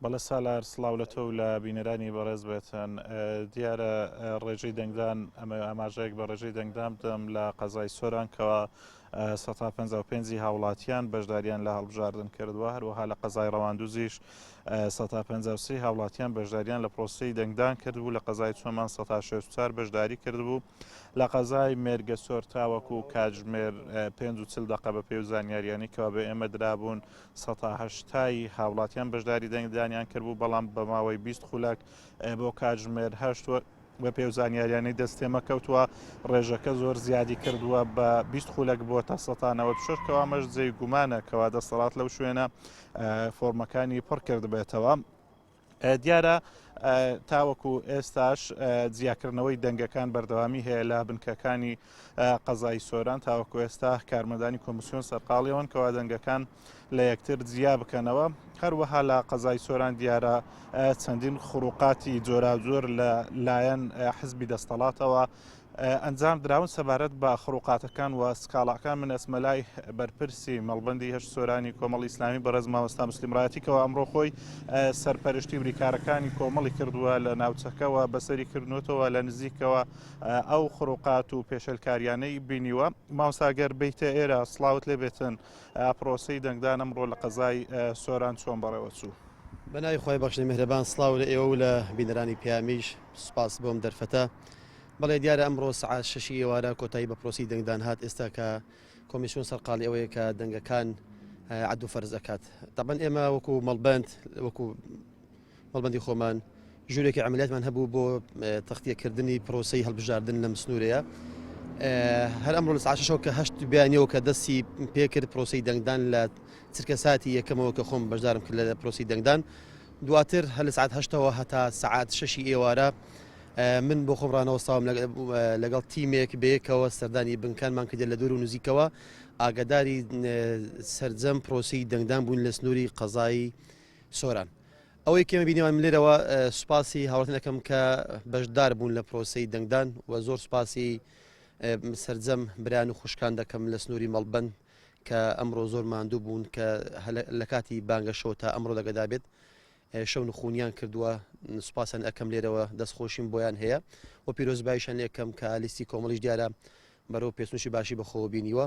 بەڵێ سالار سڵاو لە تۆ و لە بینەرانی بەڕێز بێت. دیارە ڕێژەی دەنگدان ئەمە ئاماژەیەک بە ڕێژەی دەنگدان بدەم لە قەزای سۆران کەوا سەتا پەنجا و پێنجی هاوڵاتیان بەشداریان لە هەڵبژاردن کردووە هەروەها لە قەزای ڕەواندوزیش سەتا پەنجا و سێ هاوڵاتیان بەشداریان لە پرۆسەی دەنگدان کردبوو لە قەزای چۆمان سەتا شێست و چار بەشداری کردبوو لە قەزای مێرگەسۆر تاوەکو کاتژمێر پێنج و چل دەقە بەپێی و زانیارییانەی کەوا بە ئێمە درابوون سەتا هەشتای هاوڵاتیان بەشداری دەنگدانیان کردبوو بەڵام بە ماوەی بیست خولەک بۆ کاتژمێر هەشت وە بە پێو زانیاریانەی دەستێمە کەوتووە ڕێژەکە زۆر زیادی کردووە بە بیست خولەک بووە تا سەتانەوە شش کەوامەش جێی گومانە کەوا دەسەڵات لەو شوێنە فۆرمەکانی پڕ کردبێتەوە. دیارە تاوەکو ئێستاش جیاکردنەوەی دەنگەکان بەردەوامی هەیە لە بنکەکانی قەزای سۆران تاوەکو ئێستا کارمەدانی کۆمسیۆن سەرقاڵیەوەن کەوا دەنگەکان لە یەکتر جیا بکەنەوە هەروەها لە قەزای سۆران دیارە چەندین خروقاتی جۆراجۆر لە لایەن حزبی دەستەڵاتەوە ئەنجام دراون سەبارەت بە خڕوقاتەکان و سکاڵاکان من ئەچمە لای بەرپرسی مەڵبەندی هەشت سۆرانی کۆمەڵی ئیسلامی بەڕێز مامۆستا مسلیم ڕاتی کەەوە ئەمڕۆ خۆی سەرپەرشتی بریکارەکانی کۆمەڵی کردووە لە ناوچەکەەوە بەسەری کردنوتەوە لە نزیکەوە ئەو خڕوقات و پێشلکاریانەی بینیوە ماوساگەر بیتە ئێرە سلااوت لێ بێتن پرۆسی دەنگدان ئەمڕۆ لە قەزای سۆران چۆن بەڕێوە چوو بەناوی خۆی بەخشنی مهرەبان سلااو لە ئێوە و لە بینەرانی پیامیش سوپاس بۆم دەرفەتە بەڵێ دیارە ئەمڕۆ سعات شەشی ئێوارە کۆتایی بە پرۆسی دەنگدان هات ئێستا کە کۆمیسیۆن سەرقاڵی ئەوەیە کە دەنگەکان عدو فەرز ئەکات تەبەن ئێمە وەکو مەڵبند وەکو مەڵبندی خۆمان ژورێکی ئەعملیاتمان هەبوو بۆ تەختیەکردنی پرۆسی هەڵبژاردن لەم سنوورەیە هەر ئەمڕۆ لە ساشەوە کە هەشت بیانەوە کە دەستی پێکرد پرۆسی دەنگدان لە چرکە ساتی یەکەمەوە کە خۆم بەشدارم کرد لە پرۆسی دەنگدان دواتر هەل سعات هەشتەوە هەتا سعات شەشی ئێوارە من بۆ خۆم ڕانەوەستاوم لەگەڵ تیمێک بەیەکەوە سەردانی بنکانمان کردێت لە دوور و نزیکەوە ئاگاداری سرجەم پرۆسی دەنگدان بوون لە سنووری قەزایی سۆران. ئەوەی کێمە بینیوان لێرەوە سوپاسی هاوتنەکەم کە بەشدار بوون لە پرۆسی دەنگدان و زۆر سوپاسی سرجەم بران و خوشکان دەکەم لە سنووری مەڵبند کە ئەمڕۆ زۆر ماندوو بوون کە لە کاتی بانگەشەوە تا ئەمڕۆ دەگەدا بێت شەو نخونیان کردووە سوپاسیان ئەکەم لێرەوە دەست خۆشیم بۆیان هەیە و پیرۆزبایشان لێکەم کە لیستی کۆمەڵیش دیارە بەرەو پێسنوشی باشی بەخۆوە بینیوە.